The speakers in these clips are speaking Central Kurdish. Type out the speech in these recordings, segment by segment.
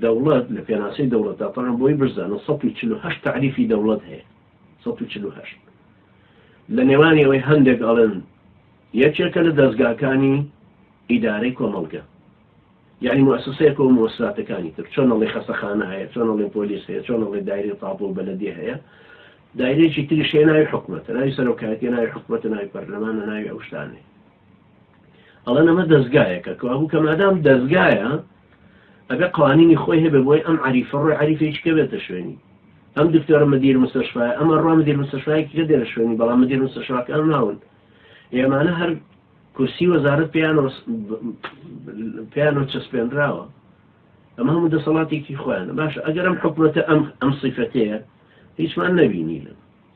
دەوڵەت لە پێناسەی دەوڵەتدا، تەنها بۆی بشزانن سەد و چل و هەشت تەعریفی دەوڵەت هەیە، سەد و چل و هەشت لە نێوانی ئەوەی هەندێک ئەڵێن یەکێکە لە دەزگاکانی ئیدارەی کۆمەڵگە، یانی موئەسەسەیەکە و موئەسساتەکانی تر، چۆن ئەڵێی خەسەخانە هەیە، چۆن ئەڵێی پۆلیس هەیە، چۆن ئەڵێی دایرەی تاپۆ و بەلەدیە هەیە، دایرەیەکی تریش هەیە ناوی حکومەتە، ناوی سەرۆکایەتیە، ناوی حکومەتە، ناوی پەرلەمانە، ناوی ئەو شتانەیە. ئەڵێن ئەمە دەزگایەکە کە ئەبوو کە مادام دەزگایە ئەبێ قوانینی خۆی هەبێ بۆی ئەم عریفە ڕۆی عریفێکی کە بێتە شوێنی ئەم دکتۆرە مدیر مستشفای ئەمە ڕۆ مدیر مستشفایەکی کە دێرە شوێنی بەڵام مدیر مستشفاکان ناون ئێمانە هەر کورسی وەزارت پێیان پێیان و چەسپێنراوە ئەمە هەموو دەسەڵاتێکی خۆیانە باشە ئەگەرم حکوومەتە ئەم ئەم سیفەتەیە هیچمان نەبینی لە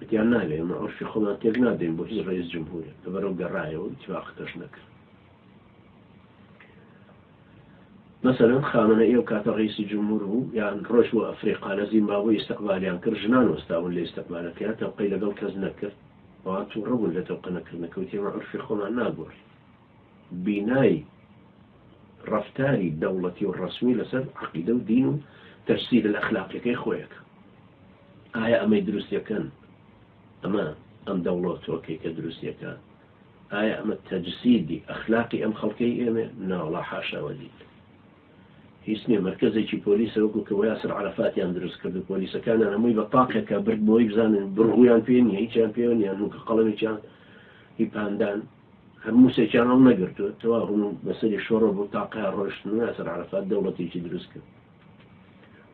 وتیان نابێ ئێمە عورفی خۆمان تێک نادەین بۆ هیچ ڕەیس جمهورێک لە بەرەو گەڕایەوە هیچ واقتەش نەکرد مەسەلەن خامەنە ئێو کاتە ڕیسی جمهور بوو یان ڕۆژ بۆ ئەفریقا لە زیمبابۆی ئیسەقبالیان کرد ژنان وەستابوون لە ئیسەقبالەکەیان تەوقەی لەگەڵ کەس نەکرد ئەوان تووڕە بوون لە تەوقە نەکردنەکەوتیمە عرفی خۆمان ناگۆڕی بینای ڕەفتاری دەوڵەتی و ڕەسمی لەسەر عەقیدە و دین و تەجسیدە ئەخلاقیەکەی خۆیەکە. ئایا ئەمەی دروستیەکەن ئەمە ئەم دەوڵەتوەکەی کە دروستیەکات ئایا ئەمە تەجسیدی ئەخلاقی ئەم خەڵکەی ئێمێ ناوەڵا حاشا وەلیل هیچ نیە مرکزێکی پۆلیسە وەکو کە وەیاسر عرفاتیان دروست کرد و پۆلیسەکانیان هەمووی بە تاقێکە برد بۆی بزانن بڕغویان پێ نیە هیچیان پێوە نیان نوکە قەڵەمێکیان هی پاندان هەر موسێکیان هەڵنەگرتووە تەواو هەموو بەسەری شۆڕە بوو تا قەیار ڕۆیشتن و یاسر عەرەفات دەوڵەتێکی دروست کرد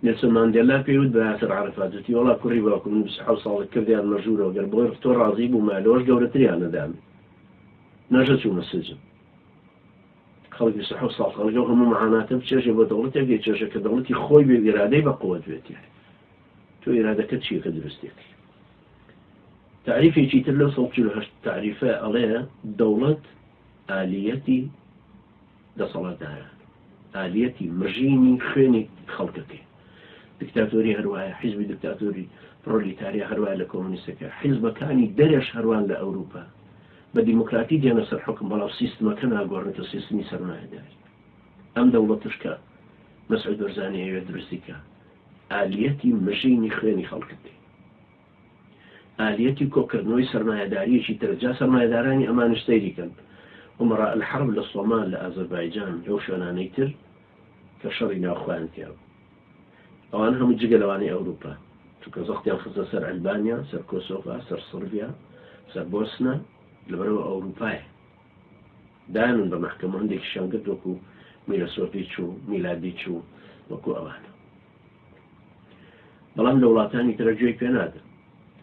نێلسۆن ماندێلا پێی وت بە یاسر عەرەفات وتی وەڵا کوڕی باوکم من 27 ساڵە کردیان مەژوورەوە گەر بۆی ڕفتۆ ڕازی بوومایە لەوەش گەورەتریان نەدام نەژە چوومە سجن خەڵک 27 ساڵ خەڵک ئەو هەموو معاناتە بچێژێ بۆ دەوڵەتێک دەیچێژە کە دەوڵەتی خۆی بێ ئیرادەی بە قوت بێتێ تۆ ئیرادەکە چییە کە دروستێتی تەعریفێکی تر لەو سەد چل و هەشت تەعریفە ئەڵێ دەوڵەت ئالیەتی دەسەڵاتدارە ئالیەتی مژینی خوێنی خەڵکەکەی دکتاتۆری هەروایە حیزبی دکتاتۆری پرۆلیتاریا هەروای لە کۆمونیستەکە حیزبەکانی دەرێش هەروان لە ئەوروپا بە دیموکراتی دێنە سەر حکم بەڵام سیستمەکە ناگۆڕێتە سیستمی سەرمایەداری ئەم دەوڵەتشکە مەسعود بەرزانی ئەوێ دروستیکە ئالیەتی مژینی خوێنی خەڵکت. ئالیەتی کۆکردنەوەی سەرمایەداریەکی ترە جا سەرمایەدارانی ئەمانیش سەیری کەن ئومەڕا الحەرب لە سۆمال لە ئازەربایجان لەو شوێنانەی تر کە شەڕی ناو خۆیان تیا بوو ئەوان هەموو جگە لەوانەی ئەوروپا چونکە زەختیان خستە سەر ئەلبانیا سەر کۆسۆڤا سەر سڕبیا سەر بۆسنە لەبەرئەوە ئەوروپایە دانن بە مەحکەمە هەندێکیشیان گرت وەکو میرە سۆفیچ و میلادیچ و وەکو ئەوانە بەڵام لە وڵاتانی ترە گوێی پێ نادن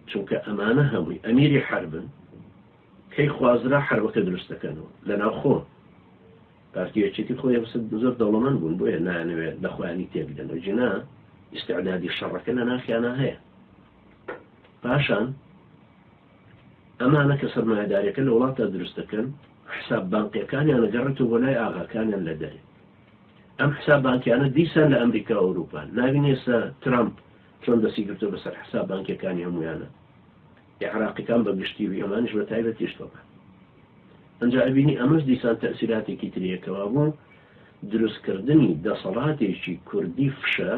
چونکە ئەمانە هەمووی ئەمیری حربن کەی خوازرا حربەکە دروستەکەنەوە لە ناو خۆن پارتیەکێتی خۆی هەسد زۆر دەوڵەمەند بوون بۆیە نانەوێت لە خۆیانی تێبدەنەوە جنا ئیسعدادی شەڕەکە لە ناخیانە هەیە پاشان ئەمانە کە سەرمایەداریەکە لە وڵاتدا دروست دەکەن حساب بانقیەکانیان ئەگەڕێتەوە بۆ لای ئاغاکانیان لە دەرێ ئەم حساب بانکیانە دیسان لە ئەمریکا و ئەوروپان ناوین ئێستا ترامپ چۆن دەسی گرتو بەسەر حساب بانکیەکانی هەمویانە عێراقیەکان بە گشتی و ئەمانیش بە تایبەتیش تۆبە ئەجا ئەبینی ئەمەش دیسان تەسیراتێکی تریەکەوە بوو دروستکردنی دەسەڵاتێکی کوردی فشە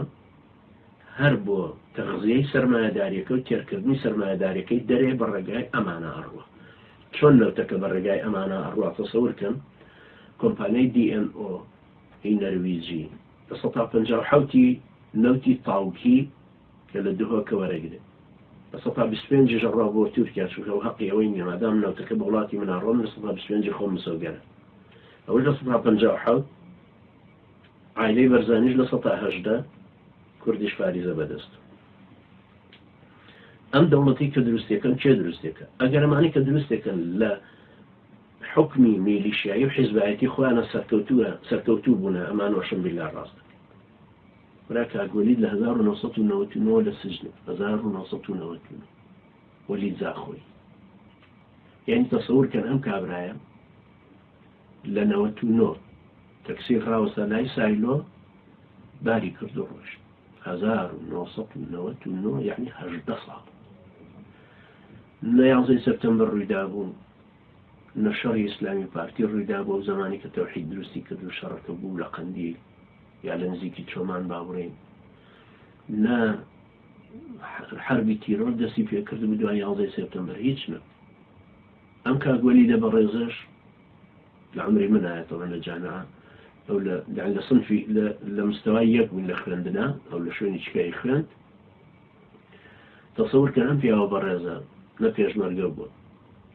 هەر بۆ تەغزیەی سەرمایەداریەکە و تێرکردنی سەرمایەداریەکەی دەرێ بە ڕێگای ئەمانە ئەڕوا چۆن نەوتەکە بە ڕێگای ئەمانە ئەڕوا تەسەور کەن کۆمپانیای DNO هی نەرویجی لە سەتا پەنجا و حەوتی نەوتی تاوکی کە لە دهۆکە وەرەگرێ بە سەتا بیست و پێنجیش ئەڕوا بۆ تورکیا چونکە ئەو هەقی ئەوەی نیە مادام نەوتەکە بە وڵاتی من ئەڕوا من لە سەتا بیست و پێنجی خۆم مسۆگەرە ئەوەش لە سەتا پەنجا و حەوت عایلەی بەرزانیش لە سەتا هەژدە کوردیش فاریزە بەدەست ئەم دەوڵەتی کە دروستەکەن کێ دروستێکە ئەگەر ئەمانی کە دروستێکە لە حکمی میلیشایی و حیزبایەتی خۆیانە سەرکەوتوە سەرکەوتوو بوونە ئەمان وەشم بلا ڕاست برا کاگۆلیت لە 1990 لە سجن 1990 وەلی زاخۆی یعنی تەسەور کەن ئەم کابرایە لە نەوەت و نۆ تەکسی خراوەسە لای سایلۆ باری کردو ڕۆشت هەزار و نۆ سەد و نەوەت و نۆ یعنی هەژدە ساڵ لە یازەی سەپتەمبەر ڕوویدا بوو لە شەڕی ئیسلامی پارتی ڕوویدا بۆ و زمانی کە تەوحید دروستی کرد و شەڕەکە بوو لە قەندیل یا لە نزیکی چۆمان باوڕین لە حربی تیرۆر دەستی پێکرد و دوای یازەی سپتمبر هیچ نە ئەم کاک وەلیدە بەڕێزەش لە عەمری منایە تەبعەن لە جامعە ئەو لە یانی لە صنفی لە لە مستەوای یەک بووین لە خوێندنا ئەو لە شوێنی چکایی خوێند تەسەور کەن ئەم پیاوە بەڕێزە نە پێشمەرگە بووە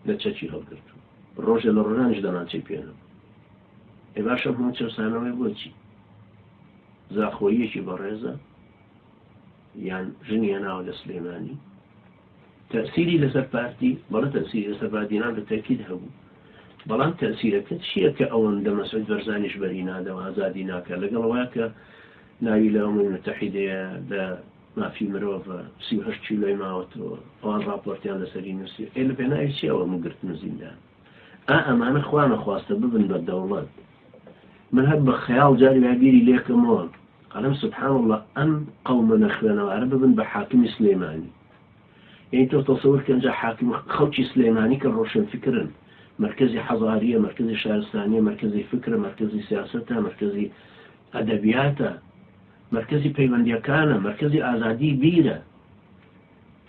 نە چەکی هەڵگرت ڕۆژێ لە ڕۆژانیش دەمانچەی پێنە ئێ باشە هەموو چەسانەوەی بۆچی زاخۆیەکی بەڕێزە یان ژنیە ناوە لە سلێمانی تەئسیری لەسەر پارتی؟ بەڵێ تەئسیری لەسەر بادینان بە تەئکید هەبوو. بەڵام تەئسیرەکە چییە کە ئەوەندە مەسعود بەرزانیش بەری نادا و ئازادی ناکا لەگەڵ ئەوەیا کە ناوی لە ئەممی موتەحیدەیە لە مافی مرۆڤ سی و هەشت کیلۆی ماوەتەوە ئەوان ڕاپۆرتیان لەسەری نووسی ئەی لە پێناوی چی ئەوە مگرتنە زیندان؟ ئا ئەمانە خوا نەخواستە ببن بە دەوڵەت من هەر بە خەیاڵ جاری وای بیری لێکەمەوە ئەڵم سبحان الله ئەم قەومە نەخوێنەوارە ببن بە حاکمی سلێمانی یعنی تۆ تەسەور کەنجا حاکم خەڵکی سلێمانی کە ڕۆشن فکرن مرکزی حەزاریە مرکزی شارستانیە مرکزی فکرە مرکزی سیاستە مرکزی ئەدەبیاتە مرکزی پەیوەندیەکانە مرکزی ئازادی بیرە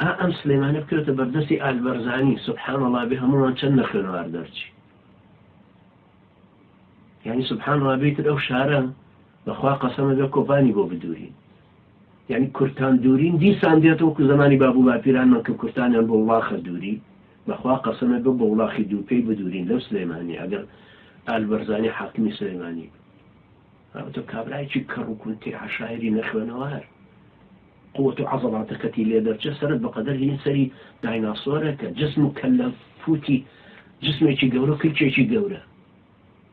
ئا ئەم سلیمانە بکەوێتە بەردەستی ئال بەرزانی سبحان اللە بێ هەمووان چەند لە خوێنەوار دەرچی یعنی سبحان اللە بێ تر ئەو شارە بەخوا قەسەمە بێ کۆپانی بۆ بدورین یعنی کورتان دورین دیسان دێتەوە کو زمانی باب و باپیرانمان کە کورتانیان بۆ وڵاخە دووری بەخوا قەسەمە بێ بۆ وڵاخی دوو پێی بدورین لەو سلێمانی ئەگەر ئال بەرزانی حاکمی سلێمانی بێ ئەوتە کابرایکی کەڕووکونتی عشاعری نەخوێنەوار قوت و عەزەڵاتەکەتی لێ دەرچێ سەرت بە قەدەر هینی سەری دایناسۆرەکە جسم و کەللە فوتی جسمێکی گەورە و کلکێکی گەورە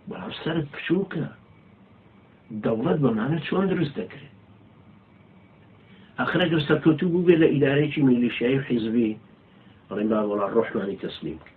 بەڵام سەرت پچوکە دەوڵەت بەمانە چۆن دروست دەکرێت ئەخرە گەر سەرکەوتو بوو بێ لە ئیدارەیەکی میلیشیایی و حیزبی ڕێنبا وڵا ڕۆحمانی تەسلیم کرد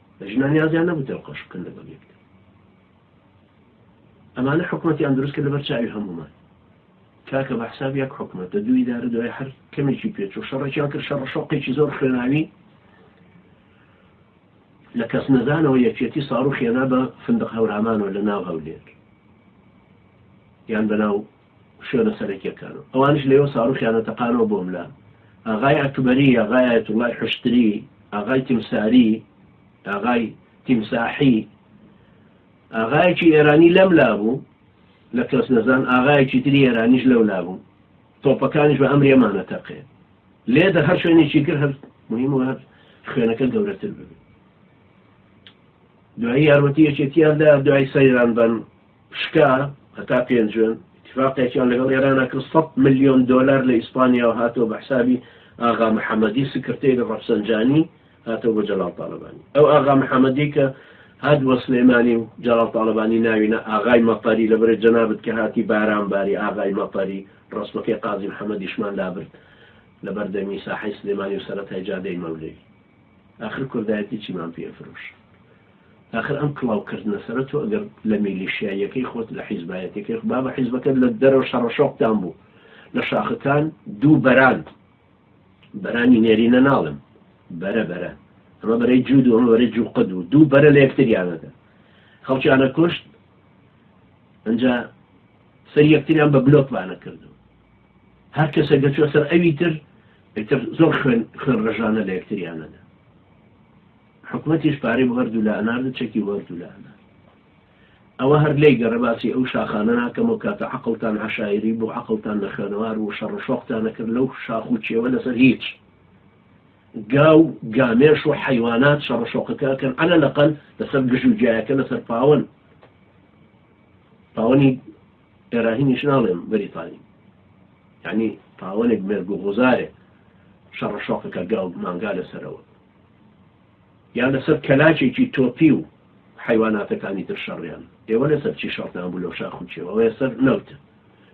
ژنان نیازیان نەبوو تێوقۆش بکەن لەگەڵ یەکدا. ئەمانە حکومەتیان دروست کرد لەبەر چاوی هەموومان. کاکە بە حساب یەک حکومەت دە دوو ئیدارە دوای هەر کەمێکی پێچ و شەڕێکیان کرد شەڕ شەوقێکی زۆر خوێناوی لە کەس نەزانەوە یەکێتی ساڕوخێنا بە فندق هەورامانەوە لە ناو هەولێر یان بەناو شوێنە سەرەکیەکان و ئەوانیش لەوێ ساڕوخیانە تەقانەوە بۆم لە، ئاغای ئەکبەری، ئاغای ئایەتوڵای حوشتری، ئاغای تیمساری، ئاغای تیمساحی، ئاغایەکی ئێرانی لەم لابوو، لە کەسنەزان ئاغایەکی تری ئێرانیش لەو لابوو، تۆپەکانیش بە ئەمرێمانە تەقێ لێ دە هەر شوێنێکی کرد هەر مهم و هەر خوێنەکە گەورەتر ببێت دوایی یارمەتی یەکێتیان دا دوای سەیران بن شکا هەتا پێنجوێن ئیتیفاقێکیان لەگەڵ ئێرانا کرد سەد ملیۆن دۆلار لە ئیسپانیاوە هاتەوە بە حسابی ئاغا محەمەدی سکرتێری ڕەفسەنجانی هاتەوە بۆ جەلال تاڵەبانی ئەو ئاغا محەمەدی کە هات بۆ سلێمانی و جەلال تاڵەبانی ناوینە ئاغای مەتەری لەبەرێ جەنابت کە هاتی باران باری ئاغای مەتەری ڕەسمەکەی قازی محەمەدیشمان لابرد لە بەردەمی ساحەی سلێمانی و سەرەتای جادەی مەولەوی ئاخر کوردایەتی چیمان پێ فرۆشت ئاخر ئەم کڵاو کردنە سەرە تۆ گەر لە میلیشیاییەکەی خۆت لە حیزبایەتیەکەی خۆ بابە حیزبەکەت لە دەرەوە شەڕە شۆقتان بوو لە شاخەکان دوو بەران بەرانی نێرینە ناڵم بەرە بەرە ئەمە بەرەی جوود و ئەمە بەرەی جوقد و دوو بەرە لە یەکتریانەکە خەڵکیانە کوشت ئەجا سەر یەکتریان بە بلۆک بانە کردو هەر کەسە گەچوە سەر ئەوی تر ئیتر زۆر خوێن خوێن ڕژانە لە یەکتریانەدا حکومەتیش پارەی بۆ هەردوولا ئەنارد و چەکی بۆ هەردوولا ئەنارد. ئەوە هەر لێی گەڕێ باسی ئەو شاخانە ناکەم ئەو کاتە عەقڵتان عەشایری بوو عەقڵتان نە خوێنەوار بوو شەڕ و شۆقتان ئەکرد لەو شاخ و کێوە لەسەر هیچ گا و گامێش و حەیوانات شەڕ و شۆقەکە ئەکەن عەلە لەقەل لەسەر گژ و گیایەکە لەسەر پاوەن پاوەنی ئێراهینیش ناڵێم بەریتانی یعنی پاوەنێک مێرگ و غوزارێ شەڕە شۆقەکە گاو مانگا لەسەرەوە یان لەسەر کەلاکێکی تۆپی و حەیواناتەکانی تر شەڕیان. ئێوە لەسەر چی شەڕتان بوو لەو شاخ و کێوە؟ ئەوە سەر نەوتە.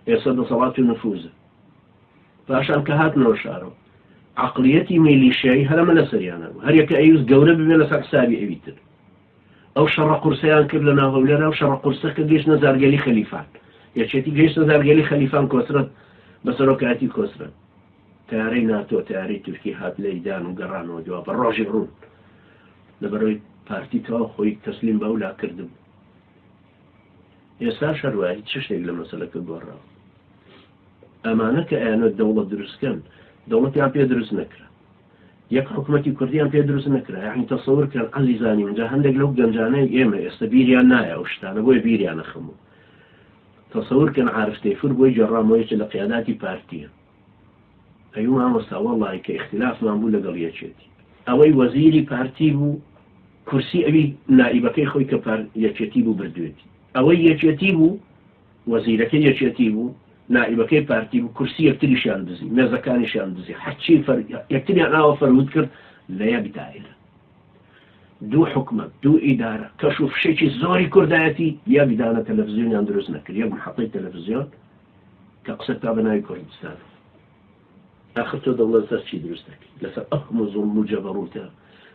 ئێ سەر دەسەڵات و نفوزە. پاشان کە هاتنەوە شارەوە. عقلیەتی میلیشیایی هەرەمە لەسەریان هەبوو. هەر یەکە ئەیوست گەورە ببێ لەسەر حسابی ئەوی تر. ئەو شەڕە قورسەیان کرد لەناو هەولێرا و شەڕە قورسە کە گەیشتنە زارگەلی خەلیفان. یەکێتی گەیشتە زارگەلی خەلیفان کۆسرەت بە سەرۆکایەتی کۆسرەت. تەیارەی ناتۆ تەیارەی تورکی هات لەیدان و گەڕانەوە دوا بە ڕۆژی ڕوون لەبەرەوەی پارتی تەواو خۆی تەسلیم بە ئەولا کردبوو ئێستاش هەروایە هیچ چشتێک لە مەسەلەکە گۆڕاوە ئەمانە کە ئەیانەوێت دەوڵەت دروستکەن دەوڵەتیان پێ دروست نەکرا یەک حکوومەتی کوردیان پێ دروست نەکرا یعنی تەسەور کرد عزیزانی منجا هەندێک لەو گەنجانەی ئێمە ئێستا بیریان نایە ئەو شتانە بۆیە بیریانە خەموو تەسەور کەن عارفتەی فر بۆی جێڕامەوەیەکی لە قیاداتی پارتیە ئەوی مامۆستا وەڵاهی کە ئیختیلافمان بوو لەگەڵ یەکێتی ئەوەی وەزیری پارتی بوو کورسی ئەوی نائیبەکەی خۆی کە پار یەکێتی بوو بردوێتی ئەوەی یەکێتی بوو وەزیرەکەی یەکێتی بوو نائیبەکەی پارتی بوو کورسی یەکتریشیان دزی مێزەکانیشیان دزی هەرچی فەر یەکتریان ئاوە فەرهود کرد لە یەک دایرە دوو حکومت دوو ئیدارە کەش و فشێکی زۆری کوردایەتی یەک دانە تەلەڤزیۆنیان دروست نەکرد یەک محەتەی تەلەڤزیۆن کە قسە بکا بە ناوی کوردستان ئاخر تۆ دەوڵەت لەسەر چی دروست دەکەی لەسەر ئەو هەموو زوڵم و جەبەڕوتە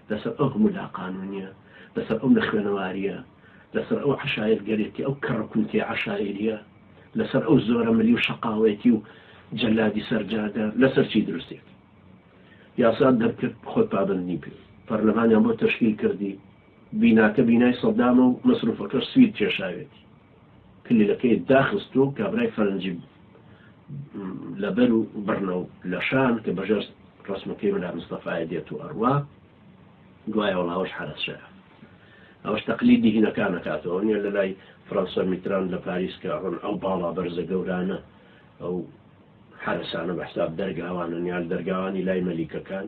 لەسەر ئەو هەموو لاقانونیە لەسەر ئەو نەخوێنەواریە لەسەر ئەو عەشایر گەرێتی ئەو کەڕە کونتەی عەشایریە لەسەر ئەو زۆرە ملی و شەقاوەتی و جەلادی سەر جادە لەسەر چی دروستێک یاسات دەرکرد خۆت پابندنی پێ پەرلەمانیان بۆ تەشکیل کردی بیناکە بینای سەدامە و مەسروفەکەش سوید کێشاوێتی کلیلەکەی داخست و کابرای فەرەنجی لەبەر و بڕنە و لە شان کە بەژێر ڕەسمەکەی ملا مستەفایە دێت و ئەڕوا گوایە وەڵاوەش حەرەسەیە ئەوش تەقلی دیهینەکان نەکاتەوە نیە لە لای فرەنسا میتران لە پاریس کە ڕۆن ئەو باڵا بەرزە گەورانە ئەو حرەسانە بە حساب دەرگاوانە نیال دەرگاوانی لای مەلیکەکان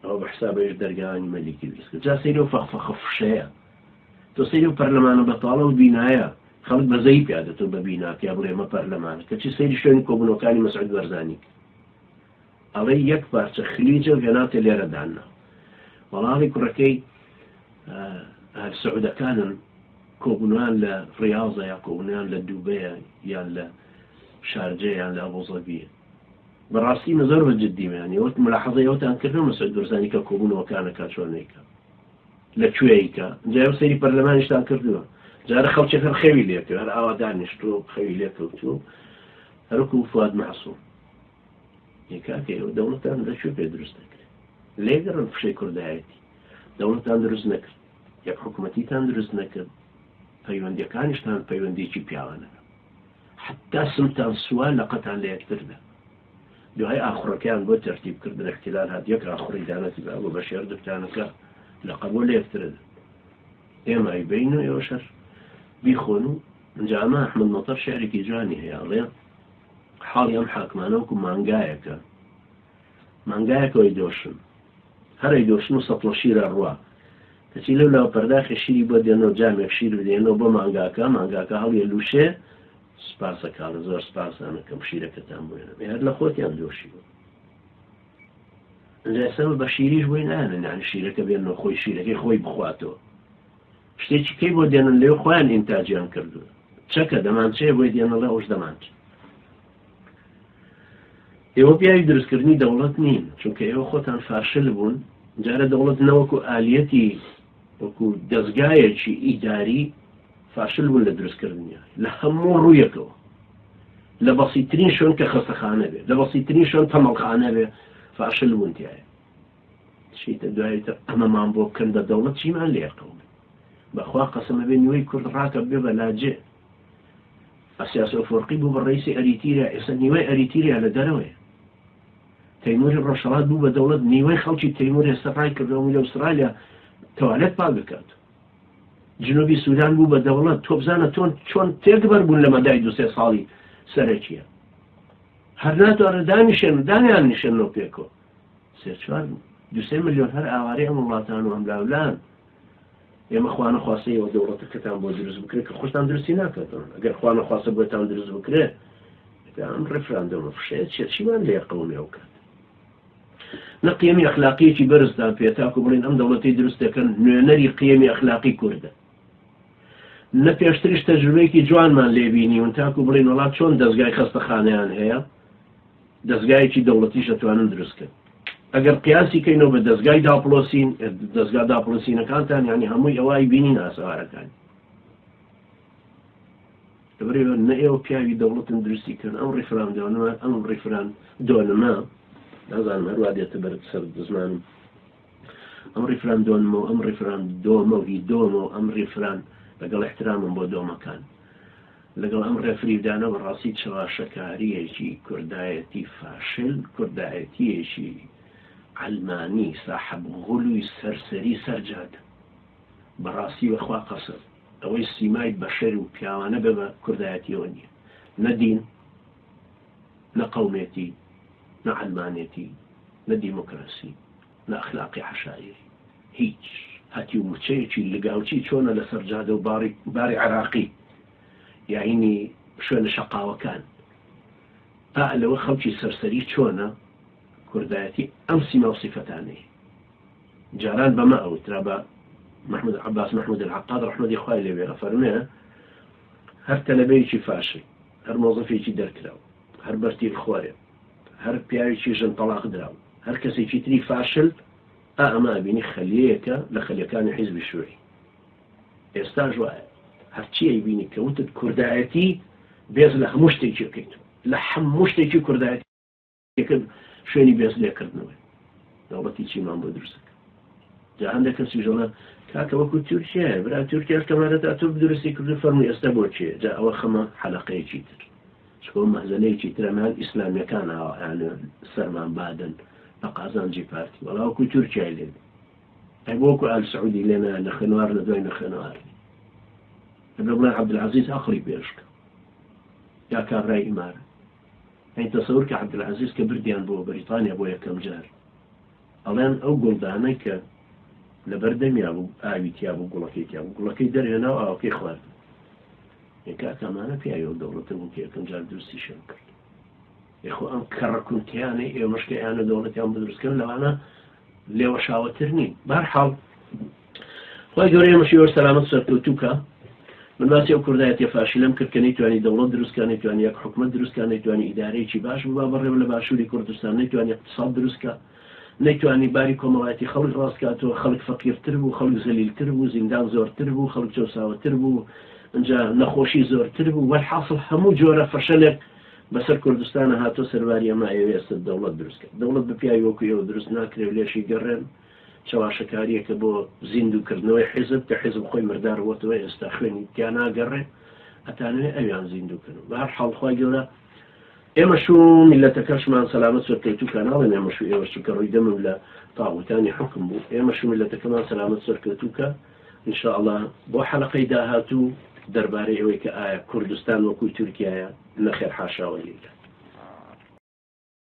ئەوە بە حساب ئەویش دەرگاوانی مەلیکی دروست کرد جا سەیری ئەو فەخفەخە فشەیە تۆ سەیری ئەو پەرلەمانە بەتاڵە و بینایە خەڵک بەزەیی پیا دەتەوە بە بینا پیا بڵێ ئەمە پەرلەمانە کەچی سەیری شوێنی کۆبوونەوەکانی مەسعود بەرزانی کرد ئەڵێ یەک پارچە خلیجە و هێناوتە لێرە داننا وەڵاڵی کوڕەکەی ئەهل سعودەکانن کۆبوونوان لە ڕیاضە یا کۆبوونیان لە دووبەیە یان لە شارجەیان لە ئەبوزەبیە بەڕاستی من زۆر بە جدی میان یە وەک ملاحظەی ئەوتان کردم مسعود برزانی کە کۆبوونەوە کانە کا چۆن نیکە لە کوێیکە جای ئەو سەیری پەرلەمانیشتان کردووە جارە خەڵکێک هەر خەوی لێکە هەر ئاوا دانیشتووە خەوی لێکەوتووە هەرکو فواد مەحسوم یکاکە ئێوە دەوڵەتان لە کوێ پێ دروست دەکرێت لێگەڕن فشەی کوردایەتی دەوڵەتان دروست نەکرد یەک حکوومەتیتان دروست نەکرد پەیوەندەکانیشتان پەیوەندێکی پیاوانە حەتتا سمتان سووە لەقتان لە یەکتر بێ. دوای ئاخوڕەکەیان بۆ تەرتیب کردن احتلال هات یەک ئاخوڕی دانەتبا بۆ بەشێر دکتانەکە لەقە بۆ لە یەکترە دەن. ئێمە ئەیبەین و ئێوەش هەر بیخۆن و ئینجا ئەمە ئەحمەد مەتەر شعرێکی جوانی هەیە ئەڵێ حاڵی ئەم حاکمانە وەکو مانگایەکە مانگایەکەوەی دۆشن هەرەی دۆشن و سەتڵە شیرە ڕوا دەچی لەو لاوە پەرداخێ شیری بۆ دێنۆ جامێک شیر بدەیەنۆ بۆ مانگاکە مانگاکە هەڵیە لوشێ سوپاسە کاڵە زۆر سوپاس زانەکەم شیرەکەتان بۆێنە بێ هەر لە خۆتیان دۆشیوە لەسەمە بە شیریش بۆی نانە نانی شیرەکە بێن نۆ خۆی شیرەکەی خۆی بخواتەوە شتێکی کەی بۆ دێنن لێو خۆیان ئینتاجیان کردووە چەکە دەمانچەیە بۆی دێنەڵە ئەوش دەمانچە ئێوە پیاوی دروستکردنی دەوڵەت نین چونکە ئێوە خۆتان فاشل بوون جارە دەوڵەت نەوەکو ئالیەتی وەکو دەستگایەکی ئیداری فاشل بوون لە دروستکردنیان لە هەموو ڕوویەکەوە لە بەسیترین شوێن کە خەستەخانە بێ لە بەسیترین شوێن تەمەڵخانە بێ فاشل بوون تایە شیتە دوایتر ئەمەمان بۆ بکەن بە دەوڵەت چیمان لێرکەون بەخوا قەسەمە بێ نیوەی کورد ڕاکە بێ بەلاجێ ئەسیاس ئەفۆرقی بوو بە ڕەیسی ئەریتیریا، ئێستا نیوەی ئەریتیریا لە دەرەوەیە. تەیموری ڕۆژهەڵات بوو بە دەوڵەت، نیوەی خەڵکی تەیمور ئێستا ڕایکردەوە میلە ئوسترالیا تەوالێت پاک دەکات. جنوبی سودان بوو بە دەوڵەت، تۆ بزانە تۆن چۆن تێکبەر بوون لە مەدای دو سێ ساڵی سەرەکیە. هەر ناتوانن دانیشێن و دانیان نیشێننەوە پێکەوە. سێ چوار، دو سێ ملیۆن هەر ئاوارەی ئەم وڵاتان و ئەم لاولان. ئێمە خوانەخواستە ئێوە دەوڵەتەکەتان بۆ دروست بکرێت کە خۆشتان دروستی ناکەتەوە ئەگەر خوانەخواستە بۆتان دروست بکرێت ئەم ڕفراندەمە فشەیە چێت چیمان لێ قەومێ بکات نەقیمی ئەخلاقیەکی بەرزدان پێ تاکو بڵین ئەم دەوڵەتی دروست دەکەن نوێنەری قیەمی ئەخلاقی کووردە نە پێشتریش تەجروبەیەکی جوانمان لێبینی ون تاکو بڵین وڵات چۆن دەستگای خەستەخانیان هەیە دەزگایەکی دەوڵەتیش ئەتوانن دروست کەن ئەگەر قیاسی کەینەوە بە دەزگای داپڵۆسین دەزگا داپڵۆسینەکانتان یعنی هەمووی ئەوە ئەیبینین ئاسەوارەکانی لەبەرەوە نە ئێوە پیاوی دەوڵەتن دروستی کەن ئەم ڕیفران دەوەنەوە ئەم ڕیفران دۆنمە نازانم هەروە دێتە بەر سەر زمانم ئەم ڕیفراندۆنمە و ئەم ڕیفراندۆمە و هی دۆمە و ئەم ڕیفران لەگەڵ ئیحترامم بۆ دۆمەکان لەگەڵ ئەم ڕێفریدانە بەڕاستی چەواشەکارییەکی کوردایەتی فاشل کوردایەتییەکی عەلمانی ساحەب غولوی سەرسەری سەر جادە بەڕاستی بەخوا قەسەم ئەوەی سیمای بەشەر و پیاوانە بە بە کوردایەتیەوە نیە نە دین نە قەومێتی، نە عەلمانێتی، نە دیمۆکراسی، نە ئەخلاقی عەشایری. هیچ. هەتیو مچەیەکی لگاوچی چۆنە لەسەر جادە و باڕی باری عێراقی یاینی شوێنە شەقاوەکان. پا لەوە خەڵکی سەرسەری چۆنە کوردایەتی ئەم سیما و سیفەتانەی. جاران بەمە ئەوترا بە محمود عەباس محمود العقاد ڕەحمەتی خوای لێبێ ئەفەرمێ هەر تەلەبەیەکی فاشل. هەر مۆزەفێکی دەرکراو، هەر بەرتیلخۆرێ، هەر پیاوێکی ژن تەڵاق دراو، هەر کەسێکی تری فاشل، ئا ئەمە ئەبینی خەلیەیەکە لە خەلیەکانی حیزبی شوعی. ئێستاش وایە. هەرچی ئەیبینی کە وتت کوردایەتی، بێز لە هەموو شتێکی ئەکەیت. لە هەموو شتێکی کوردایەتی. یەکەم شوێنی بێز لێکردنەوەی دەوڵەتی چینمان بۆ دروست دەکەن جا هەندێک کەسی ژەڵە کاکە وەکو تورکیایە برا تورکیاش کەمارەتا تورک درستی کردو فەرمی ئێستا بۆ چێ جا ئەوە خەمە حەلقەیەکی تر چکۆ مەهزەلەیەکی ترەمان ئیسلامیەکان ئاوایان سەرمان بادن بە قازانجی پارتی وەڵاوکو تورکیای لێ ئەی بۆکو ئال سعودی لێنا لە خوێنوار لە دوای نەخێنەوار ئەبێ بڵێ عبدالعزیز ئەقلی پێشکە یا کابرای ئیمارە ئەی تەسەور کە عەبدولعەزیز کە بردیان بۆ بەریتانیا بۆ یەکەم جار ئەڵێن ئەو گوڵدانەی کە لەبەر دەمیا بوو ئاوی تیا بوو گوڵەکەی تیا بوو گوڵەکەی دەرهێنا و ئاوەکەی خوارد یەکا کامانە پیاوی ئەو دەوڵەتە بوو کە یەکەم جار دروستی شەم کرد یخۆ ئەم کەڕە کونتیانەی ئێمەشکە یانە دەوڵەتیان بدروستکەن لەوانە لێوەشاوەتر نین بارحاڵ خی گەورەیە مەشیوەر سەلامەت سەرکەوتو کا من باسی ئەو کوردایەتە فاشیلم کرد کە نەیتوانی دەوڵەت دروستکانی توانی یەک حکومت دروستکانی توانی ئیدارەیەکی باش ببا بەڕێوە لە باشووری کوردستان نەیتوانی اقتصاد دروستکە نەیتوانی باری کۆمەڵایەتی خەڵک ڕاستکاتەوە خەڵک فەقیرتر بوو خەڵک زەلیلتر بوو زیندان زۆرتر بوو خەڵک چەساوەتر بوو ئەجا نەخۆشی زۆرتر بوو وەحاصل هەموو جۆرە فەشەلێک بەسەر کوردستانا هاتوە سەرباری ئەمە ئەیەوێ ئێستا دەوڵەت دروست کات دەوڵەت بە پیاوی وەکو ئێوە دروست ناکرێ و لێشی گەڕێن چەواشەکاریەکە بۆ زیندوو کردنەوەی حیزب کە حیزب خۆی مردار وەتەوە ئێستا خوێنی تیا ناگەڕێ ئەتانوێ ئەویان زیندوو کەن بە هەر حاڵ خوای گەورە ئێمەش و میلەتەکەشمان سەلامەت سەر کەوتو کە ناڵێن ئێمەش و ئێوەش چونکە ڕووی دەمم لە تاغوتانی حکم بوو ئێمەش و میلەتەکەمان سەلامەت سەر کەوتوکە ان شاء اللە بۆ حەلەقەی داهاتوو دەربارەی ئەوەی کە ئایا کوردستان وەکوی تورکیایە نەخێر حاشا وللە.